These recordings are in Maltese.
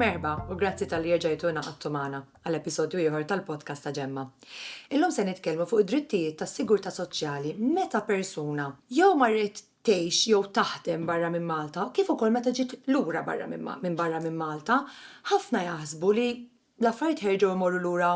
Merba, u grazzi tal-li rġajtu naqattu magħna għal episodju ieħor tal-podcast ta' Ġemma. Illum se nitkellmu fuq id-drittijiet tas sigurtà soċjali meta persuna jew marret tgħix jew taħdem barra minn Malta, kif ukoll meta ġiet lura barra minn barra minn Malta, ħafna jaħsbu li l-affarijiet ħerġgħu jmorru lura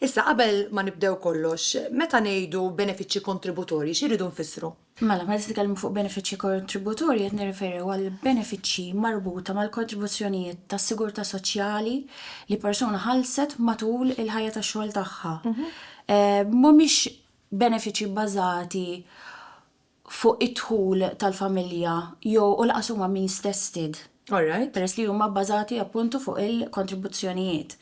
Issa, qabel ma nibdew kollox, meta ngħidu benefiċċji kontributorji, xi rridu nfissru? Mela, meta nitkellmu fuq benefiċċji kontributorji qed nirreferi għal benefiċċji marbuta mal-kontribuzzjonijiet tas-sigurtà soċjali li persuna ħallset matul il-ħajja tax-xogħol tagħha. Mhumiex benefiċċji bbażati fuq id-dħul tal-familja jew u lanqas huma means tested. All right. Peress li huma bbażati appuntu fuq il-kontribuzzjonijiet.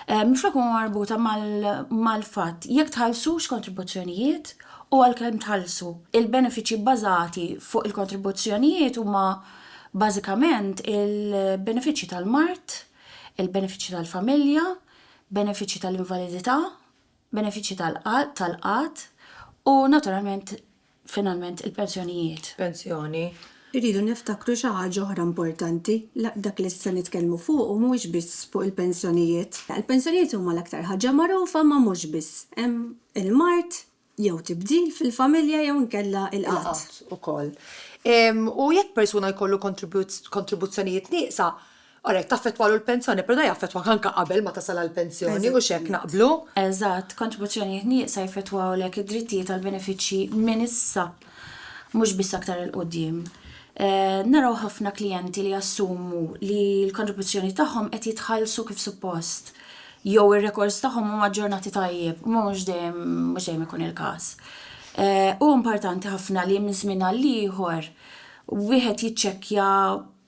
Minflok huma marbuta mal-fatt jekk tħallsux kontribuzzjonijiet u għalkemm tħallsu. Il-benefiċċji bbażati fuq il-kontribuzzjonijiet huma bażikament il-benefiċċji tal-mard, il-benefiċċji tal-familja, benefiċċji tal-invalidità, benefiċċji tal-qgħad u, naturalment, finalment, il-pensjonijiet. Pensjoni. Irridu niftakru xi ħaġa oħra importanti, dak li se nitkellmu fuqu mhuwiex biss fuq il-pensjonijiet. Il-pensjonijiet huma l-aktar ħaġa magħrufa imma mhux biss. Hemm il-mard jew tibdil fil-familja jew inkella l-qgħad. Il-qgħad ukoll. U jekk persuna jkollu kontribuzzjonijiet nieqsa, Ara jekk taffettwalu l-pensjoni, pero da jaffettwak anka qabel ma tasal għall-pensjoni, mhux hekk naqblu? Eżatt, kontribuzzjonijiet nieqsa jaffettwawlek id-drittijiet għal benefiċċji minn issa, mhux biss aktar 'il quddiem. Naraw ħafna klijenti li jassumu li l-kontribuzzjonijiet tagħhom qed jitħallsu kif suppost, jew ir-rekords tagħhom huma aġġornati tajjeb, imma mhux dejjem mhux dejjem ikun il-każ. Huwa importanti ħafna li minn żmien għal ieħor wieħed jiċċekkja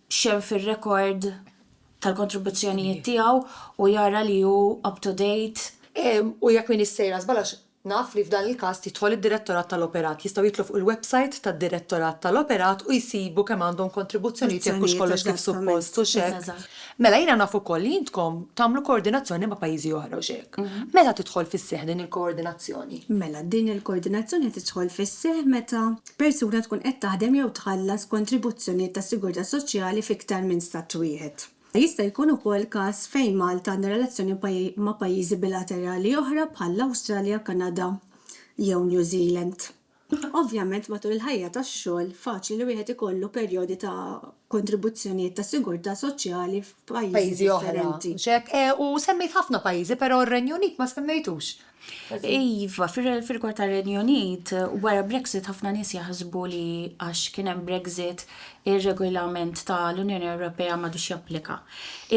x'hemm fir-rekord tal-kontribuzzjonijiet tiegħu u jara li hu up to date. U jekk m'iniex sejra żball għax naf li f'dan il-każ jidħol id-Direttorat tal-Operat, jistgħu jidħlu fuq il-websajt tad-Direttorat tal-Operat u jsibu kemm għandhom kontribuzzjonijiet jekk hux kollox kif suppost hux hekk. Mela jiena naf ukoll li intkom tagħmlu koordinazzjoni ma' pajjiżi oħra hux hekk? Meta tidħol fis-seħħ din il-koordinazzjoni? Mela din il-koordinazzjoni tidħol fis-seħħ meta persuna tkun qed taħdem jew tħallas kontribuzzjonijiet tas-sigurtà soċjali f'iktar minn Stat wieħed. Jista' jkun ukoll każ fejn Malta għandha relazzjoni ma' pajjiżi bilaterali oħra bħall-Awstralja, Kanada jew New Zealand. Ovvjament matul il-ħajja tax-xogħol faċli li wieħed ikollu perjodi ta' kontribuzzjonijiet ta' sigurtà soċjali f'pajjiżi differenti. U semmejt ħafna pajjiżi, però r-Renju Unit ma semmejtux. Iva, fir-rigward tar-Renju Unit, wara Brexit ħafna nies jaħsbu li għax kien hemm Brexit ir-regolament tal-Unjoni Ewropea m'għadux japplika.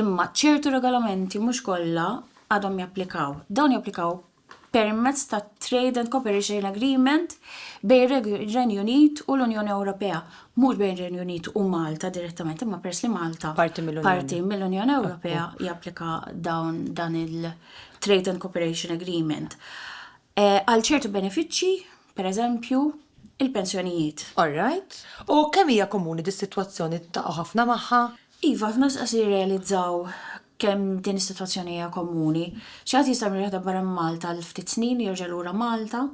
Imma ċertu regolamenti, mhux kollha, għadhom japplikaw. Dawn japplikaw permezz ta' Trade and Cooperation Agreement bejn ir-Renju Unit u l-Unjoni Ewropea, mhux bejn ir-Renju Unit u Malta direttament, imma peress li Malta parti mill-Unjoni Ewropea japplika dawn dan il-Trade and Cooperation Agreement. Eh, għal ċertu benefiċċji, pereżempju, il-pensjonijiet. All right. U kemm hija komuni dis-sitwazzjoni taqgħu ħafna magħha? Iva, ħafna stqarrija jirrealizzaw kemm din is-sitwazzjoni hija komuni. Xi ħadd jista' jmur jaħdem barra minn Malta għal ftit snin, jerġa' lura Malta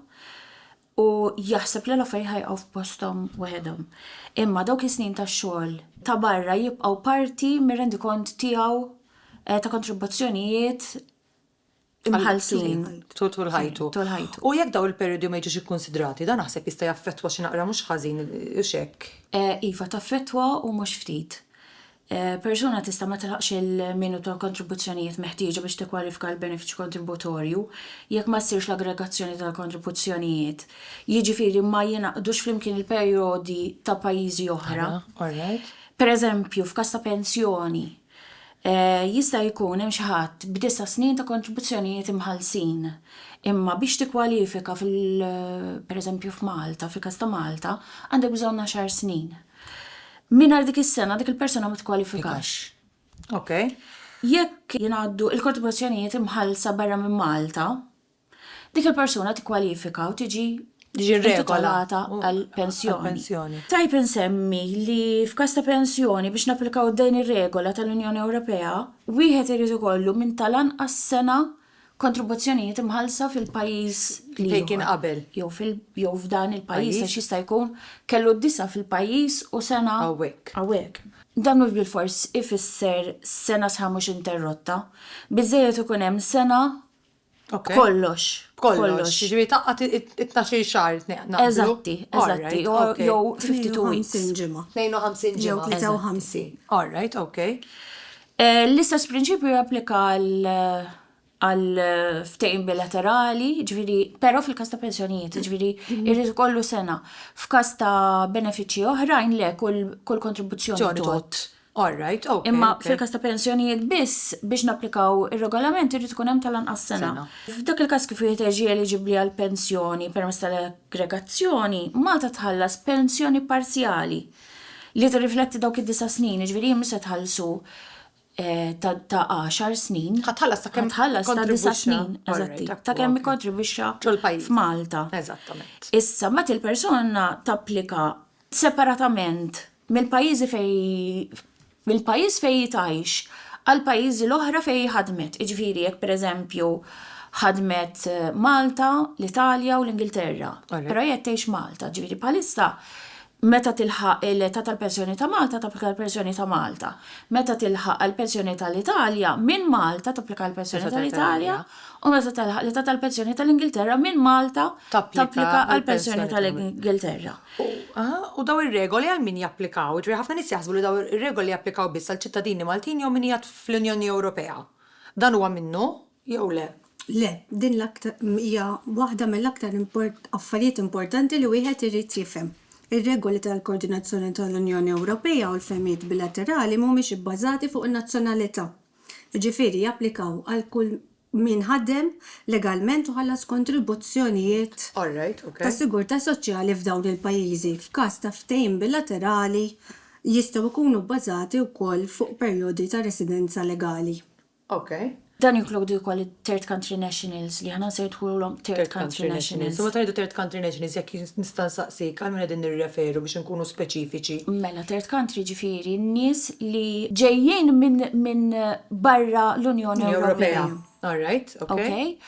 u jaħseb li l-affarijiet ħa jqgħu f'posthom waħedhom. Imma dawk is-snin ta' xogħol ta' barra jibqgħu parti mir-rendikont tiegħu ta' kontribuzzjonijiet imħallsin tul ħajtu. U jekk dawn il-perjodi ma jiġux ikkunsidrati, dan naħseb jista' jaffettwa xi naqra mhux ħażin, hux hekk? Iva, taffettwa u mhux ftit. Persuna tista' ma tilħaqx il-minu tal-kontribuzzjonijiet meħtieġa biex tikkwalifika għall-benefiċċju kontributorju jekk ma ssirx l-aggregazzjoni tal-kontribuzzjonijiet, jiġifieri ma jingħaqdux flimkien il-perjodi ta' pajjiżi oħra. Pereżempju, f'każ ta' pensjoni, Jista' jkun hemm xi ħadd b'disa' snin ta' kontribuzzjonijiet imħallsin, imma biex tikkwalifika fil-, pereżempju f'Malta, fil-każ ta' Malta, għandek bżonn għaxar snin. Mingħajr dik is-sena, dik il-persuna ma tikkwalifikax. Jekk jingħaddu l-kontribuzzjonijiet imħallsa barra minn Malta, Dik il-persuna tikkwalifika u tiġi intitolata għal pensjoni. Tajjeb insemmi li f'każ ta' pensjoni biex napplikaw din ir-regola tal-Unjoni Ewropea, wieħed irid ikollu minn tal-anqas sena kontribuzzjonijiet imħallsa fil-pajjiż l-ieħor jew f'dan il-pajjiż għax jista' jkun kellu d-disa' fil-pajjiż u sena hawnhekk. Dan mhux bilfors ifisser sena sħiħa mhux interrotta. Biżżejjed ikun hemm sena B'kollox. B'kollox. Ġifieri taqqa' it-tnax-il xahar naqblu. Eżatti, eżatti. Jew 52 weeks. 52 ġimgħa. 52 ġimgħa. Jew 53. All right, okej. L-istess prinċipju japplika għal ftehim bilaterali, ġifieri, però fil-każ ta' pensjonijiet, ġifieri jrid ikollu sena. F'każ ta' benefiċċji oħrajn le, kull kontribuzzjoni. Ġorr. All right, ok. Imma fil-każ ta' pensjonijiet biss, biex napplikaw ir-Regolament irid ikun hemm tal-anqas sena. F'dak il-każ kif wieħed jiġi eliġibbli għal pensjoni permezz tal-aggregazzjoni, Malta tħallas pensjoni parzjali li tirrifletti dawk id-disa' snin, jiġifieri hi mhux se tħallsu ta' għaxar snin. Ħa tħallas ta' kemm tħallas ta' disa' snin, eżatti, ta' kemm ikkontribwixxa f'Malta. Eżattament. Issa, mbagħad il-persuna tapplika separatament mill-pajjiżi fejn mill-pajjiż fejn hi tgħix għall-pajjiżi l-oħra fejn hi ħadmet, jiġifieri jekk pereżempju ħadmet Malta, l-Italja u l-Ingilterra, però hi qed tgħix Malta, jiġifieri bħalissa meta tilħaq l-età tal-pensjoni ta' Malta tapplika għall-pensjoni ta' Malta, meta tilħaq għall-pensjoni tal-Italja minn Malta tapplika għall-pensjoni tal-Italja u meta tilħaq l-età tal-pensjoni tal-Ingilterra minn Malta tapplika għall-pensjoni tal-Ingilterra. U dawn ir-regoli għal min japplikaw? Jiġifieri ħafna nies jaħsbu li dawn ir-regoli japplikaw biss għal ċittadini Maltin jew min qiegħed fl-Unjoni Ewropea. Dan huwa minnu jew le? Le, din l-aktar hija waħda mill-aktar affarijiet importanti li wieħed irid jifhem. Ir-regoli tal-koordinazzjoni tal-Unjoni Ewropea u l-ftehimiet bilaterali mhumiex ibbażati fuq in-nazzjonalità. Jiġifieri japplikaw għal kull min ħadem legalment u ħallas kontribuzzjonijiet ta' sigurtà soċjali f'dawn il-pajjiżi. F'każ ta' ftehim bilaterali, jistgħu jkunu bbażati wkoll fuq perjodi ta' residenza legali. Dan jinkludi wkoll it-third country nationals, li aħna nsejħulhom third country nationals. Nista' nsaqsik għal min qegħdin nirreferu biex inkunu speċifiċi? Mela third country jiġifieri n-nies li ġejjin minn barra l-Unjoni Ewropea. All right, ok.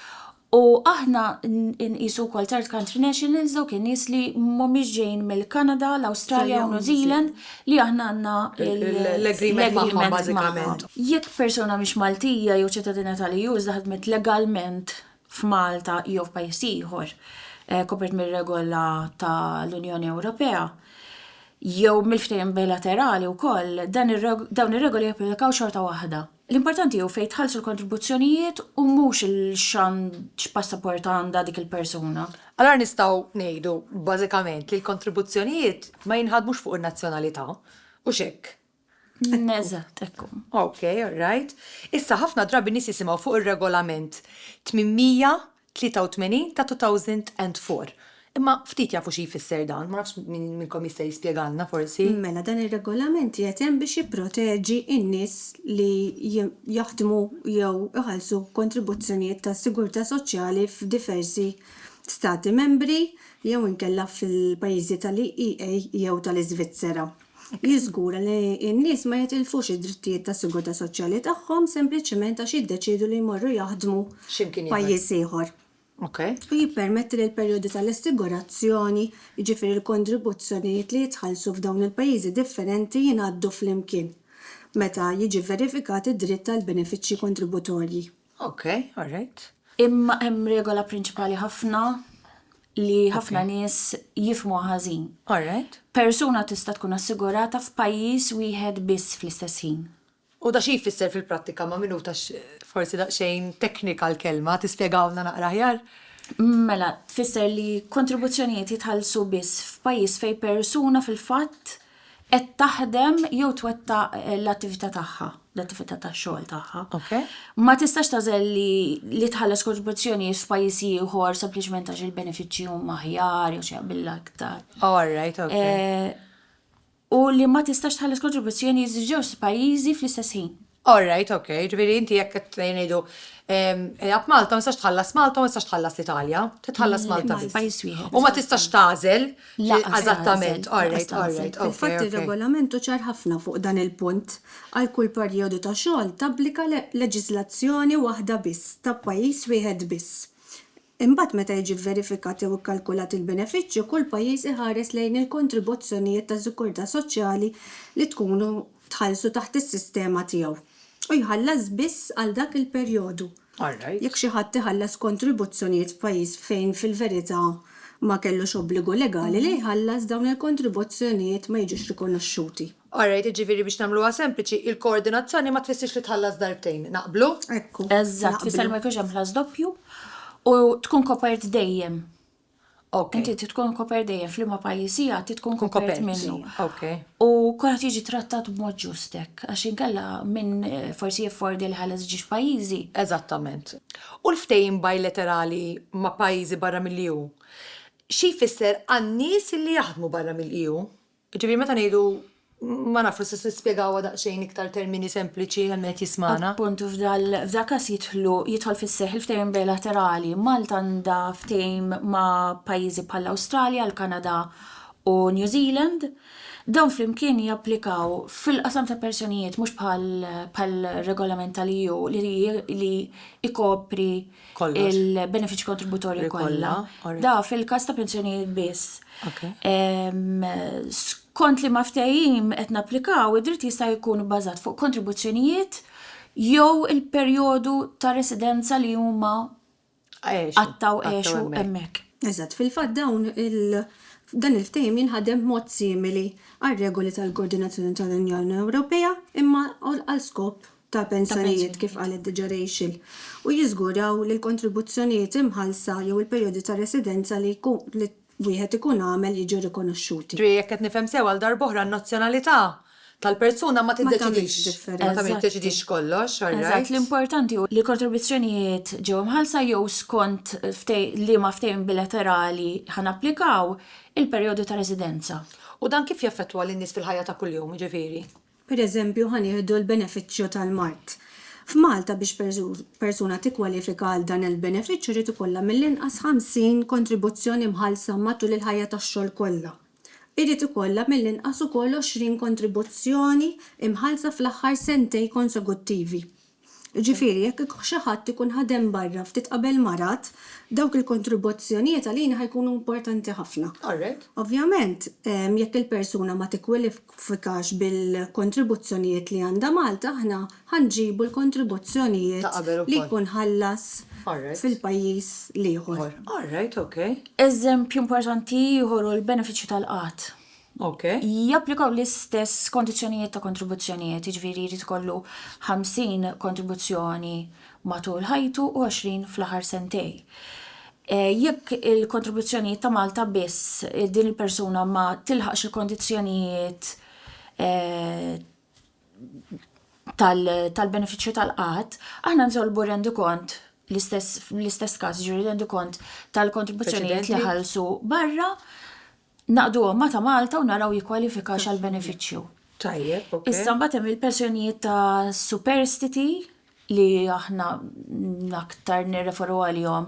U aħna nqisu wkoll third country nationals dawk in-nies li mhumiex ġejjin mill-Kanada, l-Awstralja u New Zealand li aħna għandna l-agreement magħhom bażikament. Jekk persuna mhix Maltija jew ċittadina tal-EU iżda ħadmet legalment f'Malta jew f'pajjiż ieħor kopert mir-regola tal-Unjoni Ewropea jew mill-ftehim bilaterali wkoll, dawn ir-regoli japplikaw xorta waħda. L-importanti hu fejn tħallsu l-kontribuzzjonijiet u mhux x'passaport għandha dik il-persuna. Allura nistgħu ngħidu bażikament li l-kontribuzzjonijiet ma jinħadmux fuq in-nazzjonalità, hux hekk? Eżatt, ekku. Ok, all right. Issa ħafna drabi nies jisimgħu fuq ir-Regolament 883 ta' 2004. Imma ftit jafu xi jfisser dan, ma nafx min minnkom jista' jispjegalna forsi. Mela dan ir-Regolament qiegħed hemm biex jipproteġi n-nies li jaħdmu jew iħallsu kontribuzzjonijiet tas-sigurtà soċjali f'diversi Stati Membri jew inkella fil-pajjiżi tal-EEA jew tal-Iżvizzera. jiżgura li n-nies ma jitilfux id-drittijiet tas-sigurtà soċjali tagħhom sempliċement għax jiddeċiedu li jmorru jaħdmu f'pajjiż ieħor, u jippermetti li l-perjodi tal-assigurazzjoni, jiġifieri l-kontribuzzjonijiet li jitħallsu f'dawn il-pajjiżi differenti, jingħaddu flimkien meta jiġi vverifikat id-dritt għall-benefiċċji kontributorji. Ok, all right. Imma hemm regola prinċipali ħafna li ħafna nies jifmu ħażin. All right. Persuna tista' tkun assigurata f'pajjiż wieħed biss fl-istess ħin. U da xi jfisser fil-prattika ma' minuta għax forsi daqsxejn teknika l-kelma, tispjegawlna naqra aħjar? Mela, tfisser li kontribuzzjonijiet jitħallsu biss f'pajjiż fejn persuna fil-fatt qed taħdem jew twettaq l-attività tagħha, l-attività tax-xogħol tagħha. Okay. Ma tistax tażel li li tħallas kontribuzzjonijiet f'pajjiż ieħor sempliċement għax il-benefiċċji huma aħjar jew xi jaqbilha aktar. Oh, all right, okay. Eh, u li ma tistax tħallas kontribuzzjonijiet f'żewġ pajjiżi fl-istess ħin. All right, ok, ġifieri inti jekk qed ngħidu ilgħab Malta ma tistax tħallas Malta ma tistax tħallas l-Italja, titħallas Malta biss. Pajjiż wieħed. U ma tistax tagħżel eżattament. All right, all right. Fil-fatt ir-regolament hu ċar ħafna fuq dan il-punt. Għal kull perjodu ta' xogħol tapplika leġiżlazzjoni waħda biss ta' pajjiż wieħed biss. Imbagħad meta jiġi vverifikat jew ikkalkulat il-benefiċċju, kull pajjiż iħares lejn il-kontribuzzjonijiet ta' sikurtà soċjali li tkunu tħallsu taħt is-sistema tiegħu u jħallas biss għal dak il-perjodu. Jekk xi ħadd iħallas kontribuzzjonijiet f'pajjiż fejn fil-verità ma kellux obbligu legali li jħallas, dawn il-kontribuzzjonijiet ma jiġux rikonoxxuti. All right, jiġifieri biex nagħmluha sempliċi, il-koordinazzjoni ma tfissirx li tħallas darbtejn. Naqblu? Ekku. Eżatt, tfisser li ma jkunx hemm ħlas doppju u tkun kopert dejjem. Okay. Inti trid tkun kopert dejjem f'liema pajjiż hija trid tkun kopert Kopert. minnu. Okay. U kulħadd jiġi trattat b'mod ġust hekk, għax inkella minn eh, forsi jiffordi li ħalas ġiex pajjiżi. Eżattament. U l-ftehim bilaterali ma' pajjiżi barra mill-EU? Xi jfisser għan-nies li jaħdmu barra mill-EU? Jiġifieri meta ngħidu ma nafx forsi tistgħu tispjegawha daqsxejn iktar termini sempliċi għal min qed jismagħna. Appuntu f'dan każ jidħlu, jidħol fis-seħħ il-ftehim bilaterali. Malta għandha ftehim ma' pajjiżi bħall-Awstralja, l-Kanada u New Zealand. Dawn flimkien japplikaw fil-qasam ta' pensjonijiet mhux bħal bħal regolament tal-EU li li jkopri il-benefiċċji kontributorji kollha. Da fil-każ ta' pensjonijiet biss. Skont li ma ftehim qed napplikaw, id-dritt jista' jkun bbażat fuq kontribuzzjonijiet jew il-perjodu ta' residenza li huma qattgħu għexu hemmhekk. Eżatt, fil-fatt dawn dan il-ftehim jinħadem b'mod simili għar-regoli tal-koordinazzjoni tal-Unjoni Ewropea imma għal skop ta' pensjonijiet, kif qalet diġà Rachel, u jiżguraw li l-kontribuzzjonijiet imħallsa jew il-perjodi ta' residenza li wieħed ikun għamel jiġu rikonoxxuti. Ġifieri jekk qed nifhem sew għal darb'oħra n-nazzjonalità tal-persuna ma tiddeċidix, ma tiddeċidix kollox, all right. Eżatt, l-importanti hu li l-kontribuzzjonijiet ġew imħallsa jew skont liema ftehim bilaterali ħa napplikaw il-perjodu ta' residenza. U dan kif jaffettwa lin-nies fil-ħajja ta' kuljum, jiġifieri? Pereżempju, ħa nieħdu l-benefiċċju tal-mard. F'Malta biex persuna tikkwalifika għal dan il-benefiċċju jrid ikollha mill-inqas 50 kontribuzzjoni mħallsa matul il-ħajja tax-xogħol kollha. Irid ikollha mill-inqas ukoll 20 kontribuzzjoni mħallsa fl-aħħar sentej konsekuttivi. Jiġifieri, jekk xi ħadd ikun ħadem barra ftit qabel marad, dawk il-kontribuzzjonijiet għalina ħa jkunu importanti ħafna. Ovvjament, jekk il-persuna ma tikkwalifikax bil-kontribuzzjonijiet li għandha Malta, aħna ħa nġibu l-kontribuzzjonijiet li jkun ħallas fil-pajjiż l-ieħor. Eżempju importanti ieħor hu l-benefiċċju tal-qgħad. Ok. Japplikaw l-istess kondizzjonijiet ta' kontribuzzjonijiet, jiġifieri jrid ikollu 50 kontribuzzjoni matul ħajtu u 20 fl-aħħar sentej. Jekk il-kontribuzzjonijiet ta' Malta biss, din il-persuna ma tilħaqx il-kondizzjonijiet tal-benefiċċju tal-qgħad, aħna nitolbu rendikont fl-istess każ, jiġifieri rendikont tal-kontribuzzjonijiet li ħallsu barra. naqduhom ma' ta' Malta u naraw jikkwalifikax għal benefiċċju. Tajjeb, ok. Issa mbagħad hemm il-pensjonijiet ta' superstiti li aħna aktar nirreferu għalihom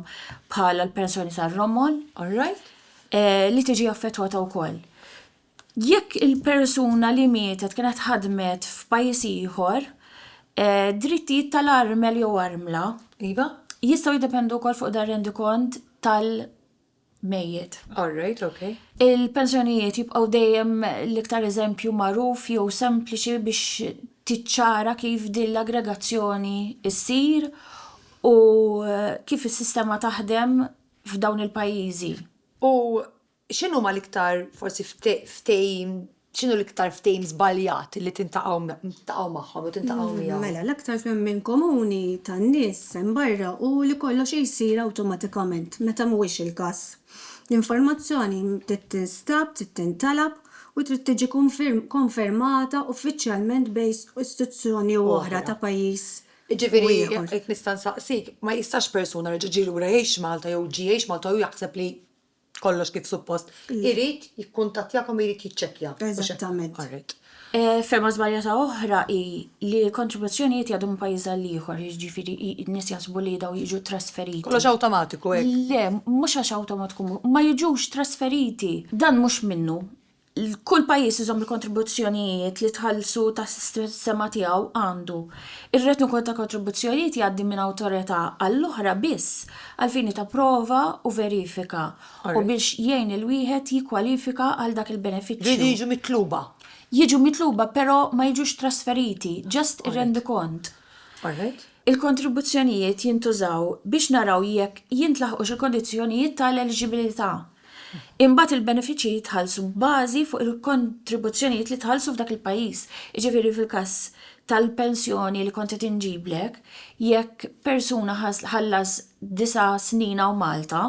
bħala l-pensjoni tar-romol. All right. Eh, li tiġi affettwata wkoll. Jekk il-persuna li mietet kienet ħadmet f'pajjiż ieħor, eh, drittijiet tal-armel jew armla. Iva. Jistgħu jiddependu wkoll fuq dar-rendikont tal- mejjet. All right, okay. Il-pensjonijiet jibqgħu dejjem l-iktar eżempju magħruf jew sempliċi biex tiċċara kif din l-aggregazzjoni ssir u kif is-sistema taħdem f'dawn il-pajjiżi. U x'inhuma l-iktar forsi ftehim X'inhu l-iktar ftehim żbaljat li tintaqgħu magħhom jew tintaqgħu miegħu? Mela, l-aktar fehmien komuni tan-nies hemm barra hu li kollox jsir awtomatikament, meta mhuwiex il-każ. L-informazzjoni trid tinstab, trid tintalab, u trid tiġi konfermata uffiċjalment bejn istituzzjoni u oħra ta' pajjiż u ieħor. Jiġifieri, jekk nista' nsaqsik, ma jistax persuna li ġie lura jgħix Malta jew ġie jgħix Malta u jaħseb li kollox kif suppost, irid jikkuntattjakom u jrid jiċċekkja. Eżattament. All right. Fehma żbaljata oħra hi li kontribuzzjonijiet jgħaddu minn pajjiż għal ieħor, jiġifieri n-nies jaħsbu li dawn jiġu trasferiti. Kollox awtomatiku hekk. Le, mhux għax awtomatiku, ma jiġux trasferiti. Dan mhux minnu. kull pajjiż iżomm il-kontribuzzjonijiet li tħallsu tas-sistema tiegħu għandu. Ir-retingu ta' kontribuzzjonijiet jgħaddi minn awtorità għall-oħra biss għall-fini ta' prova u verifika u biex jgħin lil wieħed jikkwalifika għal dak il-benefiċċju. Jridu jiġu mitluba. Jiġu mitluba però ma jiġux trasferiti, just ir-rendikont. Il-kontribuzzjonijiet jintużaw biex naraw jekk jintlaħqux il-kondizzjonijiet ta' l-eliġibilità. Imbagħad il-benefiċċji jitħallsu bbażi fuq il-kontribuzzjonijiet li tħallsu f'dak il-pajjiż. Jiġifieri fil-każ tal-pensjoni li kont qed inġiblek, jekk persuna ħallas disa' snin hawn Malta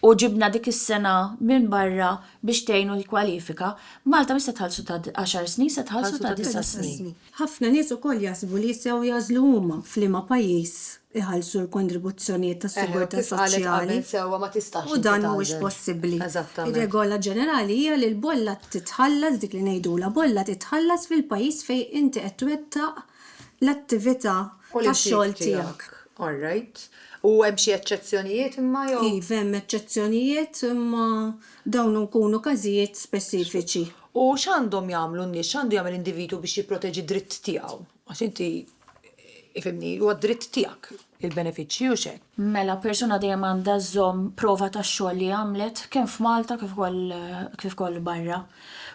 u ġibna dik is-sena minn barra biex tgħinu jikkwalifika, Malta mhix se tħallsu ta' għaxar snin, se tħallsu ta' disa' snin. Ħafna nies ukoll jaħsbu li sew jagħżlu huma f'liema pajjiż iħallsu l-kontribuzzjonijiet tas-sigurtà soċjali u dan mhuwiex possibbli. Ir-regola ġenerali hija li l-bolla titħallas, dik li ngħidulha bolla titħallas fil-pajjiż fejn inti qed twettaq l-attività tax-xogħol tiegħek. Alright. U hemm xi eċċezzjonijiet imma jew? Iva hemm eċċezzjonijiet imma dawn ikunu każijiet speċifiċi. U x'għandhom jagħmlu n-nies, x'għandu jagħmel individwu biex jipproteġi d-dritt tiegħu? Għax inti, ifhimni, huwa d-dritt tiegħek il-benefiċċji, hux hekk? Mela, persuna dejjem għandha żżomm prova tax-xogħol li għamlet, kemm f'Malta kif ukoll kif ukoll barra.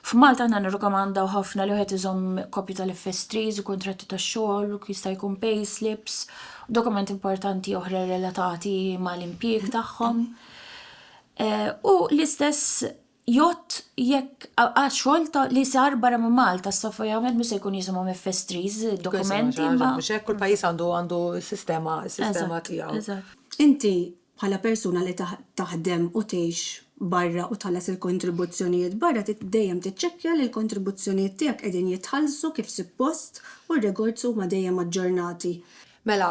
F'Malta aħna nirrikomandaw ħafna li wieħed iżomm kopji tal-FS3s, kuntratti tax-xogħol, u jista' jkun payslips, u dokumenti importanti oħra relatati mal-impjieg tagħhom. U l-istess Jott jekk għax xogħol li sar barra minn Malta, s-soffa jgħamil mhux se jkun jisimhom FS3s, dokumenti. Mhux hekk kull pajjiż għandu għandu sistema sistema tiegħu. Inti bħala persuna li taħdem u tgħix barra u tħallas il-kontribuzzjonijiet barra trid dejjem tiċċekkja li l-kontribuzzjonijiet tiegħek qegħdin jitħallsu kif suppost u r-rekords huma dejjem aġġornati. Mela,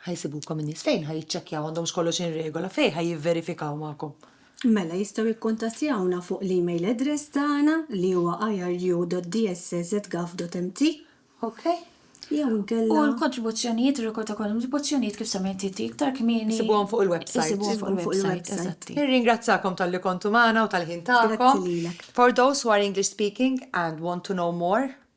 Ħa jsibukom in-nies fejn ħa jiċċekkjaw għandhomx kollox in regola, fejn ħa jivverifikaw magħkom? Mela jistgħu jikkuntattjawna fuq l-email address tagħna li huwa iru.dss@gov.mt. Okay. Jew inkella. U l-kontribuzzjonijiet, ir-rekord ta' kontribuzzjonijiet kif semmejt inti iktar kmieni. Isibuhom fuq il-website. Isibuhom fuq il-website, eżatti. Nirringrazzakom talli kontu magħna u tal-ħin tagħkom. Grazzi lilek. For those who are English speaking and want to know more.